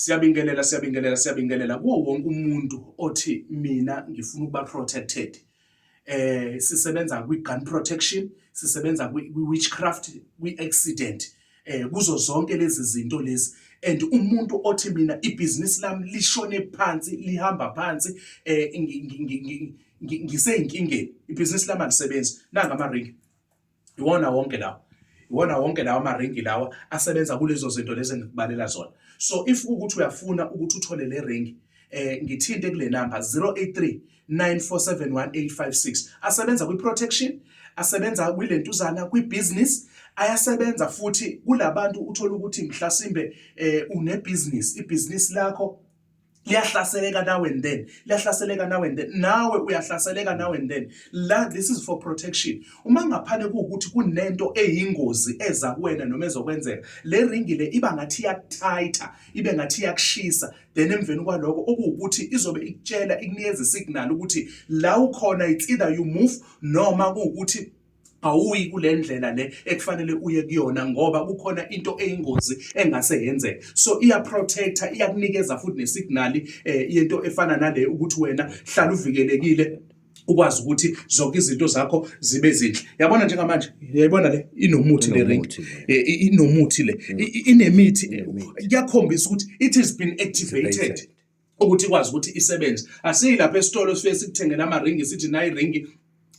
Siyabingelela siyabingelela siyabingelela kuwo wonke umuntu othi mina ngifuna ukuba protected. Eh sisebenza kwi gun protection, sisebenza kwi witchcraft, kwi accident. Eh kuzo zonke lezi zinto lezi and umuntu othi mina ibhizinisi lami lishone phansi lihamba phansi eh ngiseyinkingeni ibhizinisi lami alisebenzi nanga ama ring iwona wonke lawo iwona wonke lawa amaringi lawa asebenza kulezo zinto lezi engikubalela zona so if ukuthi uyafuna ukuthi uthole le ringi eh ngithinte kule number 083 9471856 asebenza kwi protection asebenza kwilentuzana kwi business ayasebenza futhi kulabantu uthola ukuthi mhlasimbe eh une business i business lakho liyahlaseleka now and then liyahlaseleka now and then nawe uyahlaseleka now and then la this is for protection uma ngaphane kuwukuthi kunento eyingozi eza kuwena noma ezokwenzeka le ringi le iba ngathi yakuthaitha ibe ngathi yakushisa then emveni kwaloko okuwukuthi izobe ikutshela ikunikeza isignal ukuthi la ukhona it's either you move noma kuwukuthi awuyi kule ndlela le ekufanele uye kuyona ngoba kukhona into eyingozi engase yenzeke so iya protector iyakunikeza futhi nesignal eh, yento efana nale ukuthi wena hlala uvikelekile ukwazi ukuthi zonke izinto zakho zibe zinhle yabona njengamanje yayibona le inomuthi le ring eh, inomuthi le mm. inemithi kuyakhombisa ukuthi it has been activated ukuthi ikwazi ukuthi isebenze asiyi lapha esitolo sifike sikuthengela amaringi sithi nayi ringi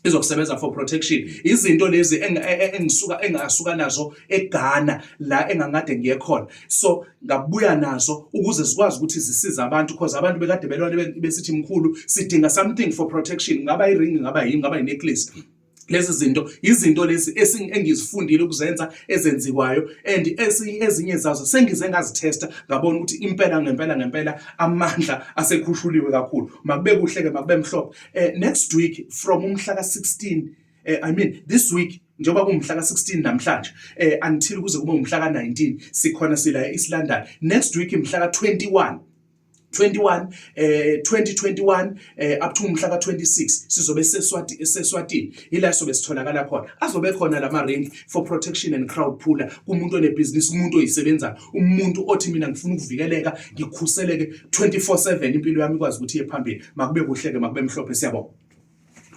izokusebenza for protection izinto lezi e, e, engisuka engasuka nazo eGhana la engangade ngiye khona so ngabuya nazo ukuze zikwazi ukuthi zisize abantu because abantu bekade belwane besithi mkhulu sidinga something for protection ngaba iring ngaba yini ngaba inecklace lezi zinto izinto lezi engizifundile ukuzenza ezenziwayo and ezinye zazo sengize ngazithesta ngabona ukuthi impela ngempela ngempela amandla asekhushuliwe kakhulu makube kuhle ke makube mhlophe eh, next week from umhla ka-16 eh, i mean this week njengoba kumhla ka-16 namhlanje eh, until kuze kube umhla ka-19 sikhona sila e-east london next week mhla ka-21 21 eh 2021 eh up to umhla ka26 sizobe seswati eseswatini ila sobe sitholakala khona azobe khona lama range for protection and crowd puller kumuntu one business umuntu oyisebenza umuntu othi mina ngifuna ukuvikeleka ngikhuseleke 24/7 impilo yami ikwazi ukuthi iye phambili makube kuhleke makube mhlophe siyabonga